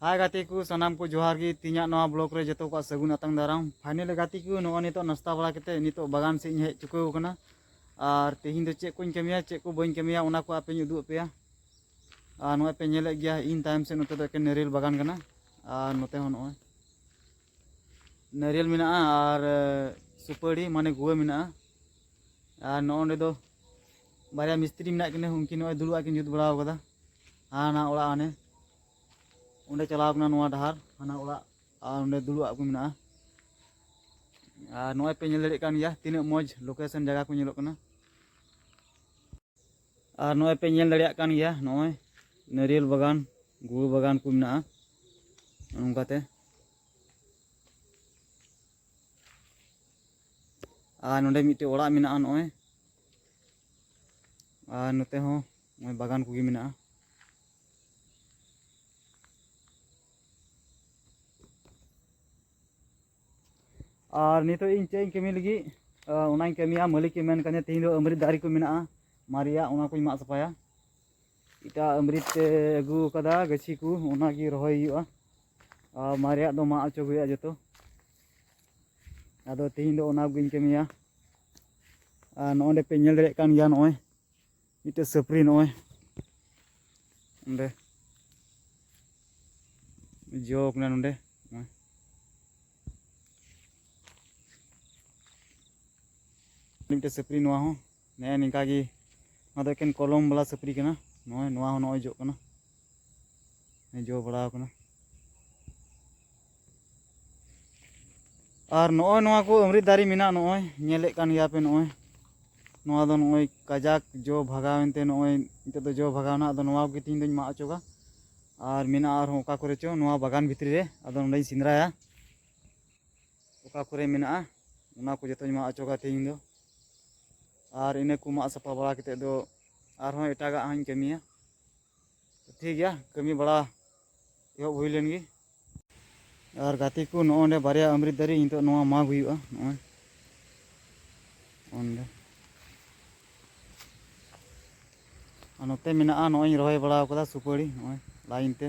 ᱦᱟᱭ ᱜᱟᱛᱮ ᱠᱚ ᱥᱟᱱᱟᱢ ᱠᱚ ᱡᱚᱦᱟᱨ ᱜᱮ ᱛᱤᱧᱟᱜ ᱱᱚᱣᱟ ᱵᱞᱚᱜ ᱨᱮ ᱡᱚᱛᱚ ᱠᱚᱣᱟᱜ ᱥᱟᱹᱜᱩᱱ ᱟᱛᱟᱝ ᱫᱟᱨᱟᱢ ᱯᱷᱟᱭᱱᱮᱞ ᱜᱟᱛᱮ ᱠᱚ ᱱᱚᱜᱼᱚᱭ ᱱᱤᱛᱚᱜ ᱱᱟᱥᱛᱟ ᱵᱟᱲᱟ ᱠᱟᱛᱮ ᱱᱤᱛᱚᱜ ᱵᱟᱜᱟᱱ ᱥᱮᱫ ᱤᱧ ᱦᱮᱡ ᱪᱩᱠᱟᱹᱣ ᱟᱠᱟᱱᱟ ᱟᱨ ᱛᱮᱦᱮᱧ ᱫᱚ ᱪᱮᱫ ᱠᱚᱧ ᱠᱟᱹᱢᱤᱭᱟ ᱪᱮᱫ ᱠᱚ ᱵᱟᱹᱧ ᱠᱟᱹᱢᱤᱭᱟ ᱚᱱᱟ ᱠᱚ ᱟᱯᱮᱧ ᱩᱫᱩᱜ ᱟᱯᱮᱭᱟ ᱟᱨ ᱱᱚᱜᱼᱚᱭ ᱯᱮ ᱧᱮᱞᱮᱫ ᱜᱮᱭᱟ ᱤᱧ ᱛᱟᱭᱚᱢ ᱥᱮᱫ ᱱᱚᱛᱮ ᱫᱚ ᱮᱠᱮᱱ ᱱᱟᱹᱨᱤᱭᱮᱞ ᱵᱟᱜᱟᱱ ᱠᱟᱱᱟ ᱟᱨ ᱱᱚᱛᱮ ᱦᱚᱸ ᱱᱚᱜᱼᱚᱭ ᱱᱟᱹᱨᱤᱭᱮᱞ ᱢᱮᱱᱟᱜᱼᱟ ᱟᱨ ᱥᱩᱯᱟᱹᱲᱤ ᱢᱟᱱᱮ ᱜᱩᱣᱟᱹ ᱢᱮᱱᱟᱜᱼᱟ ᱟᱨ ᱱᱚᱜᱼᱚᱸᱰᱮ ᱫᱚ ᱵᱟᱨᱭᱟ ᱢᱤᱥᱛᱨᱤ ᱢᱮᱱᱟᱜ ᱠᱤᱱᱟ ᱩᱱᱠᱤᱱ ᱱᱚᱜᱼᱚᱭ ᱫᱩᱲᱩᱵ ᱠᱤᱱ ᱡᱩᱛ ᱵᱟᱲᱟᱣ ᱠᱟᱫᱟ ᱦᱟᱱᱟ ᱚᱲᱟᱜ ᱦᱟᱱᱮ ᱚᱸᱰᱮ ᱪᱟᱞᱟᱣ ᱠᱟᱱᱟ ᱱᱚᱣᱟ ᱰᱟᱦᱟᱨ ᱦᱟᱱᱟ ᱚᱲᱟᱜ ᱟᱨ ᱚᱸᱰᱮ ᱫᱩᱲᱩᱵ ᱠᱚ ᱢᱮᱱᱟᱜᱼᱟ ᱟᱨ ᱱᱚᱜᱼᱚᱭ ᱯᱮ ᱧᱮᱞ ᱫᱟᱲᱮᱭᱟᱜ ᱠᱟᱱ ᱜᱮᱭᱟ ᱛᱤᱱᱟᱹᱜ ᱢᱚᱡᱽ ᱞᱳᱠᱮᱥᱚᱱ ᱡᱟᱭᱜᱟ ᱠᱚ ᱧᱮᱞᱚᱜ ᱠᱟᱱᱟ ᱟᱨ ᱱᱚᱜᱼᱚᱭ ᱯᱮ ᱧᱮᱞ ᱫᱟᱲᱮᱭᱟᱜ ᱠᱟᱱ ᱜᱮᱭᱟ ᱱᱚᱜᱼᱚᱭ ᱱᱟᱹᱨᱤᱭᱮᱞ ᱵᱟᱜᱟᱱ ᱜᱩᱲ ᱵᱟᱜᱟᱱ ᱠᱚ ᱢᱮᱱᱟᱜᱼᱟ ᱱᱚᱝᱠᱟᱛᱮ ᱟᱨ ᱱᱚᱰᱮ ᱢᱤᱫᱴᱮᱡ ᱚᱲᱟᱜ ᱢᱮᱱᱟᱜᱼᱟ ᱱᱚᱜᱼᱚᱭ ᱟᱨ ᱱᱚᱛᱮ ᱦᱚᱸ ᱱᱚᱜᱼᱚᱭ ᱵᱟᱜᱟᱱ ᱠᱚᱜᱮ ᱢᱮᱱᱟᱜᱼᱟ ᱟᱨ ᱱᱤᱛᱚᱜ ᱤᱧ ᱪᱮᱫ ᱤᱧ ᱠᱟᱹᱢᱤ ᱞᱟᱹᱜᱤᱫ ᱚᱱᱟᱧ ᱠᱟᱹᱢᱤᱭᱟ ᱢᱟᱹᱞᱤᱠᱮ ᱢᱮᱱ ᱠᱟᱹᱫᱤᱧᱟ ᱛᱮᱦᱮᱧ ᱫᱚ ᱟᱢᱨᱤᱛ ᱫᱟᱨᱮ ᱠᱚ ᱢᱮᱱᱟᱜᱼᱟ ᱢᱟᱨᱮᱭᱟᱜ ᱚᱱᱟ ᱠᱚᱧ ᱢᱟᱜ ᱥᱟᱯᱷᱟᱭᱟ ᱮᱴᱟᱜ ᱟᱢᱨᱤᱛ ᱛᱮ ᱟᱹᱜᱩ ᱟᱠᱟᱫᱟ ᱜᱟᱹᱪᱷᱤ ᱠᱚ ᱚᱱᱟᱜᱮ ᱨᱚᱦᱚᱭ ᱦᱩᱭᱩᱜᱼᱟ ᱟᱨ ᱢᱟᱨᱮᱭᱟᱜ ᱫᱚ ᱢᱟᱜ ᱚᱪᱚᱜ ᱦᱩᱭᱩᱜᱼᱟ ᱡᱚᱛᱚ ᱟᱫᱚ ᱛᱮᱦᱮᱧ ᱫᱚ ᱚᱱᱟ ᱠᱚᱜᱮᱧ ᱠᱟᱹᱢᱤᱭᱟ ᱟᱨ ᱱᱚᱜᱼᱚᱸᱰᱮ ᱯᱮ ᱧᱮᱞ ᱫᱟᱲᱮᱭᱟᱜ ᱠᱟᱱ ᱜᱮᱭᱟ ᱱᱚᱜᱼᱚᱭ ᱢᱤᱫᱴᱮᱡ ᱥᱟᱹᱯᱨᱤ ᱱᱚᱜᱼᱚᱭ ᱚᱸᱰᱮ ᱡᱚ ᱠᱟᱱᱟ ᱱᱚᱸᱰᱮ ᱢᱤᱫᱴᱮᱡ ᱥᱟᱹᱯᱨᱤ ᱱᱚᱣᱟ ᱦᱚᱸ ᱱᱮᱜᱼᱮ ᱱᱤᱝᱠᱟ ᱜᱮ ᱱᱚᱣᱟ ᱫᱚ ᱮᱠᱮᱱ ᱠᱚᱞᱚᱢ ᱵᱟᱞᱟ ᱥᱟᱹᱯᱨᱤ ᱠᱟᱱᱟ ᱱᱚᱜᱼᱚᱭ ᱱᱚᱣᱟ ᱦᱚᱸ ᱱᱚᱜᱼᱚᱭ ᱡᱚᱜ ᱠᱟᱱᱟ ᱡᱚ ᱵᱟᱲᱟᱣ ᱠᱟᱱᱟ ᱟᱨ ᱱᱚᱜᱼᱚᱭ ᱱᱚᱣᱟ ᱠᱚ ᱟᱢᱨᱤᱛ ᱫᱟᱨᱮ ᱢᱮᱱᱟᱜᱼᱟ ᱱᱚᱜᱼᱚᱭ ᱧᱮᱞᱮᱫ ᱠᱟᱱ ᱜᱮᱭᱟ ᱯᱮ ᱱᱚᱜᱼᱚᱭ ᱱᱚᱣᱟ ᱫᱚ ᱱᱚᱜᱼᱚᱭ ᱠᱟᱡᱟᱠ ᱡᱚ ᱵᱷᱟᱜᱟᱣᱮᱱ ᱛᱮ ᱱᱚᱜᱼᱚᱭ ᱱᱤᱛᱚᱜ ᱫᱚ ᱡᱚ ᱵᱷᱟᱜᱟᱣᱱᱟ ᱟᱫᱚ ᱱᱚᱣᱟ ᱠᱚᱜᱮ ᱛᱮᱦᱮᱧ ᱫᱚᱧ ᱢᱟᱜ ᱚᱪᱚᱜᱟ ᱟᱨ ᱢᱮᱱᱟᱜᱼᱟ ᱟᱨᱦᱚᱸ ᱚᱠᱟ ᱠᱚᱨᱮ ᱪᱚ ᱱᱚᱣᱟ ᱵᱟᱜᱟᱱ ᱵᱷᱤᱛᱨᱤ ᱨᱮ ᱟᱫᱚ ᱱᱚᱸᱰᱮᱧ ᱥᱮᱸᱫᱽᱨᱟᱭᱟ ᱚᱠᱟ ᱠᱚᱨᱮ ᱢᱮᱱᱟᱜᱼᱟ ᱚᱱᱟ ᱠᱚ ᱡᱚᱛᱚᱧ ᱢᱟᱜ ᱚᱪᱚᱜᱟ ᱛᱮᱦᱮᱧ ᱫᱚ ᱟᱨ ᱤᱱᱟᱹ ᱠᱚ ᱢᱟᱜ ᱥᱟᱯᱷᱟ ᱵᱟᱲᱟ ᱠᱟᱛᱮ ᱫᱚ ᱟᱨᱦᱚᱸ ᱮᱴᱟᱜᱟᱜ ᱦᱚᱸᱧ ᱠᱟᱹᱢᱤᱭᱟ ᱴᱷᱤᱠ ᱜᱮᱭᱟ ᱠᱟᱹᱢᱤ ᱵᱟᱲᱟ ᱮᱦᱚᱵ ᱦᱩᱭ ᱞᱮᱱ ᱜᱮ ᱟᱨ ᱜᱟᱛᱮ ᱠᱚ ᱱᱚᱜᱼᱚ ᱱᱚᱸᱰᱮ ᱵᱟᱨᱭᱟ ᱟᱢᱨᱤᱛ ᱫᱟᱨᱮ ᱱᱤᱛᱚᱜ ᱱᱚᱣᱟ ᱢᱟᱜᱽ ᱦᱩᱭᱩᱜᱼᱟ ᱱᱚᱜᱼᱚᱭ ᱚᱸᱰᱮ ᱟᱨ ᱱᱚᱛᱮ ᱢᱮᱱᱟᱜᱼᱟ ᱱᱚᱜᱼᱚᱭ ᱨᱚᱦᱚᱭ ᱵᱟᱲᱟ ᱟᱠᱟᱫᱟ ᱥᱩᱯᱟᱹᱲᱤ ᱱᱚᱜᱼᱚᱭ ᱞᱟᱭᱤᱱ ᱛᱮ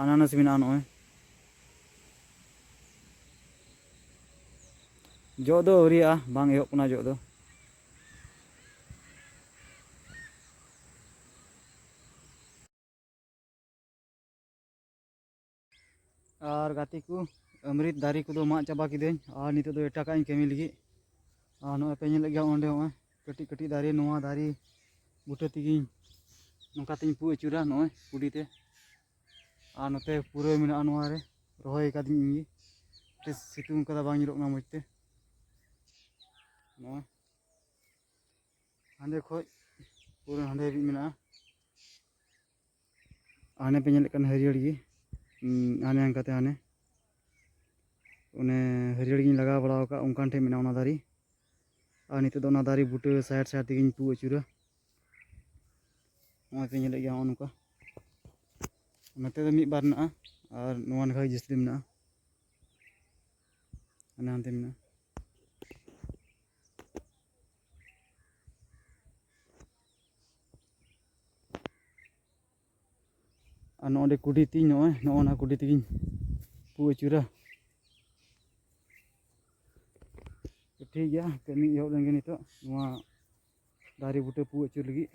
ᱟᱱᱟᱱᱟᱥ ᱢᱮᱱᱟᱜᱼᱟ ᱱᱚᱜᱼᱚᱭ ᱡᱚᱜ ᱫᱚ ᱟᱹᱣᱨᱤᱭᱟᱜᱼᱟ ᱵᱟᱝ ᱮᱦᱚᱵ ᱠᱟᱱᱟ ᱡᱚᱜ ᱫᱚ ᱟᱨ ᱜᱟᱛᱮ ᱠᱚ ᱟᱢᱨᱤᱛ ᱫᱟᱨᱮ ᱠᱚᱫᱚ ᱢᱟᱜ ᱪᱟᱵᱟ ᱠᱤᱫᱟᱹᱧ ᱟᱨ ᱱᱤᱛᱚᱜ ᱫᱚ ᱮᱴᱟᱜᱟᱜ ᱤᱧ ᱠᱟᱹᱢᱤ ᱞᱟᱹᱜᱤᱫ ᱟᱨ ᱱᱚᱜᱼᱚᱭ ᱯᱮ ᱧᱮᱞᱮᱫ ᱜᱮᱭᱟ ᱚᱸᱰᱮ ᱦᱚᱸᱜᱼᱚᱭ ᱠᱟᱹᱴᱤᱡ ᱠᱟᱹᱴᱤᱡ ᱫᱟᱨᱮ ᱱᱚᱣᱟ ᱫᱟᱨᱮ ᱵᱩᱴᱟᱹ ᱛᱮᱜᱮᱧ ᱱᱚᱝᱠᱟ ᱛᱮᱧ ᱯᱩ ᱟᱹᱪᱩᱨᱟ ᱱᱚᱜᱼᱚᱭ ᱠᱩᱰᱤ ᱛᱮ ᱟᱨ ᱱᱚᱛᱮ ᱯᱩᱨᱟᱹᱭ ᱢᱮᱱᱟᱜᱼᱟ ᱱᱚᱣᱟ ᱨᱮ ᱨᱚᱦᱚᱭ ᱟᱠᱟᱫᱤᱧ ᱤᱧ ᱜᱮ ᱥᱤᱛᱩᱝ ᱠᱟᱫᱟ ᱵᱟᱝ ᱧᱮᱞᱚᱜ ᱠᱟᱱᱟ ᱢᱚᱡᱽ ᱛᱮ ᱱᱚᱜᱼᱚᱭ ᱦᱟᱸᱰᱮ ᱠᱷᱚᱡ ᱯᱩᱨᱟᱹ ᱦᱟᱸᱰᱮ ᱦᱟᱹᱵᱤᱡ ᱢᱮᱱᱟᱜᱼᱟ ᱦᱟᱱᱮ ᱯᱮ ᱧᱮᱞᱮᱫ ᱠᱟᱱ ᱦᱟᱹᱨᱭᱟᱹᱲ ᱜᱮ ᱦᱟᱱᱮ ᱦᱟᱱᱠᱟᱛᱮ ᱦᱟᱱᱮ ᱚᱱᱮ ᱦᱟᱹᱨᱭᱟᱹᱲ ᱜᱤᱧ ᱞᱟᱜᱟᱣ ᱵᱟᱲᱟ ᱟᱠᱟᱫ ᱚᱱᱠᱟᱱ ᱴᱷᱮᱱ ᱢᱮᱱᱟᱜᱼᱟ ᱚᱱᱟ ᱫᱟᱨᱮ ᱟᱨ ᱱᱤᱛᱚᱜ ᱫᱚ ᱚᱱᱟ ᱫᱟᱨᱮ ᱵᱩᱴᱟᱹ ᱥᱟᱭᱤᱰ ᱥᱟᱭᱤᱰ ᱛᱮᱜᱮᱧ ᱯᱩ ᱟᱹᱪᱩᱨᱟ ᱱᱚᱜᱼᱚᱭ ᱯᱮ ᱧᱮᱞᱮᱫ ᱜᱮᱭᱟ ᱱᱚᱜᱼᱚ ᱱᱚᱝᱠᱟ ᱱᱚᱛᱮ ᱫᱚ ᱢᱤᱫ ᱵᱟᱨ ᱢᱮᱱᱟᱜᱼᱟ ᱟᱨ ᱱᱚᱣᱟ ᱱᱟᱠᱷᱟ ᱜᱮ ᱡᱟᱹᱥᱛᱤ ᱢᱮᱱᱟᱜᱼᱟ ᱦᱟᱱᱮ ᱦᱟᱱᱛᱮ ᱢᱮᱱᱟᱜᱼᱟ ᱟᱨ ᱱᱚᱜᱼᱚ ᱱᱚᱸᱰᱮ ᱠᱩᱰᱤ ᱛᱤᱧ ᱱᱚᱜᱼᱚᱭ ᱱᱚᱜᱼᱚ ᱱᱟ ᱠᱩᱰᱤ ᱛᱮᱜᱤᱧ ᱯᱩ ᱟᱹᱪᱩᱨᱟ ᱴᱷᱤᱠ ᱜᱮᱭᱟ ᱠᱟᱹᱢᱤ ᱮᱦᱚᱵ ᱞᱮᱱᱜᱮ ᱱᱤᱛᱚᱜ ᱱᱚᱣᱟ ᱫᱟᱨᱮ ᱵᱩᱴᱟᱹ ᱯᱩ ᱟᱹᱪᱩᱨ ᱞᱟᱹᱜᱤᱫ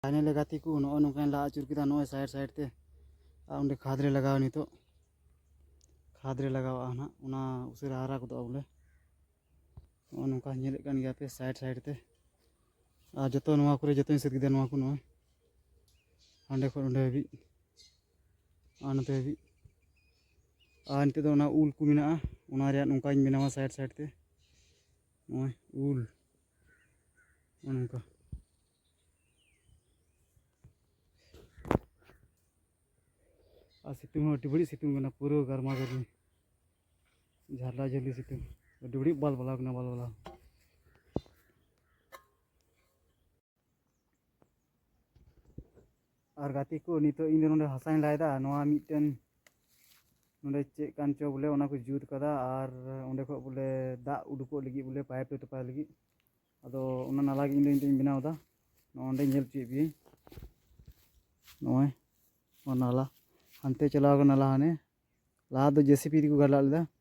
ᱯᱷᱟᱭᱱᱟᱞᱮ ᱜᱟᱛᱮ ᱠᱚ ᱱᱚᱜᱼᱚ ᱱᱚᱝᱠᱟᱧ ᱞᱟ ᱟᱹᱪᱩᱨ ᱠᱮᱫᱟ ᱱᱚᱜᱼᱚᱭ ᱥᱟᱭᱤᱰ ᱥᱟᱭᱤᱰ ᱛᱮ ᱟᱨ ᱚᱸᱰᱮ ᱠᱷᱟᱫᱽ ᱨᱮ ᱞᱟᱜᱟᱣᱟ ᱱᱤᱛᱚᱜ ᱠᱷᱟᱫᱽ ᱨᱮ ᱞᱟᱜᱟᱣᱟᱜᱼᱟ ᱱᱟᱜ ᱚᱱᱟ ᱩᱥᱟᱹᱨᱟ ᱦᱟᱨᱟ ᱜᱚᱫᱚᱜᱼᱟ ᱵᱚᱞᱮ ᱱᱚᱜᱼᱚ ᱱᱚᱝᱠᱟ ᱧᱮᱞᱮᱫ ᱠᱟᱱ ᱜᱮᱭᱟ ᱯᱮ ᱥᱟᱭᱤᱰ ᱥᱟᱭᱤᱰ ᱛᱮ ᱟᱨ ᱡᱚᱛᱚ ᱱᱚᱣᱟ ᱠᱚᱨᱮ ᱡᱚᱛᱚᱧ ᱥᱟᱹᱛ ᱠᱮᱫᱟ ᱱᱚᱣᱟ ᱠᱚ ᱱᱚᱜᱼᱚᱭ ᱦᱟᱸᱰᱮ ᱠᱷᱚᱱ ᱚᱸᱰᱮ ᱦᱟᱹᱵᱤᱡ ᱟᱨ ᱱᱚᱛᱮ ᱦᱟᱹᱵᱤᱡ ᱟᱨ ᱱᱤᱛᱚᱜ ᱫᱚ ᱚᱱᱟ ᱩᱞ ᱠᱚ ᱢᱮᱱᱟᱜᱼᱟ ᱚᱱᱟ ᱨᱮᱭᱟᱜ ᱱᱚᱝᱠᱟᱧ ᱵᱮᱱᱟᱣᱟ ᱥᱟᱭᱤᱰ ᱥᱟᱭᱤᱰ ᱛᱮ ᱱᱚᱜᱼᱚᱭ ᱩᱞ ᱱᱚᱜᱼᱚ ᱱᱚᱝᱠᱟ ᱟᱨ ᱥᱤᱛᱩᱝ ᱦᱚᱸ ᱟᱹᱰᱤ ᱵᱟᱹᱲᱤᱡ ᱥᱤᱛᱩᱝ ᱠᱟᱱᱟ ᱯᱩᱨᱟᱹ ᱜᱟᱨᱢᱟ ᱜᱟᱨᱢᱤ ᱡᱷᱟᱨᱞᱟ ᱡᱷᱟᱹᱞᱤ ᱥᱤᱛᱩᱝ ᱟᱹᱰᱤ ᱵᱟᱹᱲᱤᱡ ᱵᱟᱞ ᱵᱟᱞᱟᱣ ᱠᱟᱱᱟ ᱵᱟᱞ ᱵᱟᱞᱟᱣ ᱟᱨ ᱜᱟᱛᱮ ᱠᱚ ᱱᱤᱛᱚᱜ ᱤᱧ ᱫᱚ ᱱᱚᱰᱮ ᱦᱟᱥᱟᱧ ᱞᱟᱭᱫᱟ ᱱᱚᱣᱟ ᱢᱤᱫᱴᱮᱱ ᱱᱚᱰᱮ ᱪᱮᱫ ᱠᱟᱱ ᱪᱚ ᱵᱚᱞᱮ ᱚᱱᱟ ᱠᱚ ᱡᱩᱛ ᱠᱟᱫᱟ ᱟᱨ ᱚᱸᱰᱮ ᱠᱷᱚᱡ ᱵᱚᱞᱮ ᱫᱟᱜ ᱩᱰᱩᱠᱚᱜ ᱞᱟᱹᱜᱤᱫ ᱵᱚᱞᱮ ᱯᱟᱭᱤᱯ ᱨᱮ ᱛᱚᱯᱟᱭ ᱞᱟᱹᱜᱤᱫ ᱟᱫᱚ ᱚᱱᱟ ᱱᱟᱞᱟ ᱜᱮ ᱤᱧ ᱫᱚ ᱱᱤᱛᱚᱜ ᱤᱧ ᱵᱮᱱᱟᱣ ᱮᱫᱟ ᱱᱚᱜᱼᱚᱸᱰᱮ ᱧᱮᱞ ᱦᱚᱪᱚᱭᱮᱫ ᱯᱮᱭᱟᱹᱧ ᱱᱚᱜᱼᱚᱭ ᱱᱚᱣᱟ ᱱᱟᱞᱟ ᱦᱟᱱᱛᱮ ᱪᱟᱞᱟᱣ ᱠᱟᱱᱟ ᱱᱟᱞᱟ ᱦᱟᱱᱮ ᱞᱟᱦᱟ ᱫᱚ ᱡᱮᱥᱤᱯᱤ ᱛᱮᱠᱚ ᱜᱟᱰᱞᱟᱜ ᱞᱮᱫᱟ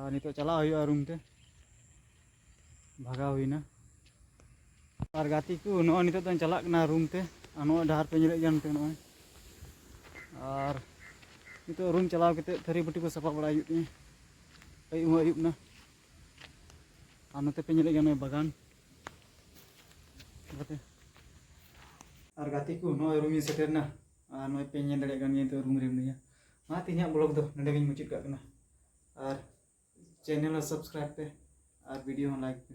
ᱟᱨ ᱱᱤᱛᱚᱜ ᱪᱟᱞᱟᱜ ᱦᱩᱭᱩᱜᱼᱟ ᱨᱩᱢ ᱛᱮ ᱵᱷᱟᱜᱟᱣ ᱦᱩᱭᱱᱟ ᱟᱨ ᱜᱟᱛᱮ ᱠᱚ ᱱᱚᱜᱼᱚᱭ ᱱᱤᱛᱚᱜ ᱫᱚᱧ ᱪᱟᱞᱟᱜ ᱠᱟᱱᱟ ᱨᱩᱢ ᱛᱮ ᱟᱨ ᱱᱚᱜᱼᱚᱭ ᱰᱟᱦᱟᱨ ᱯᱮ ᱧᱮᱞᱮᱫ ᱜᱮᱭᱟ ᱱᱚᱛᱮ ᱱᱚᱜᱼᱚᱭ ᱟᱨ ᱱᱤᱛᱚᱜ ᱨᱩᱢ ᱪᱟᱞᱟᱣ ᱠᱟᱛᱮ ᱛᱷᱟᱹᱨᱤ ᱵᱟᱹᱴᱤ ᱠᱚ ᱥᱟᱯᱷᱟ ᱵᱟᱲᱟᱭ ᱦᱩᱭᱩᱜ ᱛᱤᱧᱟᱹ ᱟᱹᱭᱩᱵ ᱦᱚᱸ ᱟᱹᱭᱩᱵ ᱮᱱᱟ ᱟᱨ ᱱᱚᱛᱮ ᱯᱮ ᱧᱮᱞᱮᱫ ᱜᱮᱭᱟ ᱱᱚᱜᱼᱚᱭ ᱵᱟᱜᱟᱱ ᱟᱨ ᱜᱟᱛᱮ ᱠᱚ ᱱᱚᱜᱼᱚᱭ ᱨᱩᱢᱤᱧ ᱥᱮᱴᱮᱨᱱᱟ ᱟᱨ ᱱᱚᱜᱼᱚᱭ ᱯᱮ ᱧᱮᱞ ᱫᱟᱲᱮᱭᱟᱜ ᱠᱟᱱ ᱜᱮᱭᱟ ᱱᱤᱛᱚᱜ ᱨᱩᱢ ᱨᱮ ᱢᱤᱱᱟᱹᱧᱟ ᱚᱱᱟᱛᱮ ᱤᱧᱟᱹᱜ ᱵᱞᱚᱜ ᱫᱚ ᱱᱚᱰᱮ ᱜᱤᱧ ᱢᱩᱪᱟᱹᱫ ᱠᱟᱜ ᱠᱟᱱᱟ ᱟᱨ ᱪᱮᱱᱮᱞ ᱦᱚᱸ ᱥᱟᱵᱥᱠᱨᱟᱭᱤᱵ ᱯᱮ ᱟᱨ ᱵᱷᱤᱰᱤᱭᱳ ᱦᱚᱸ ᱞᱟᱭᱤᱠ ᱯᱮ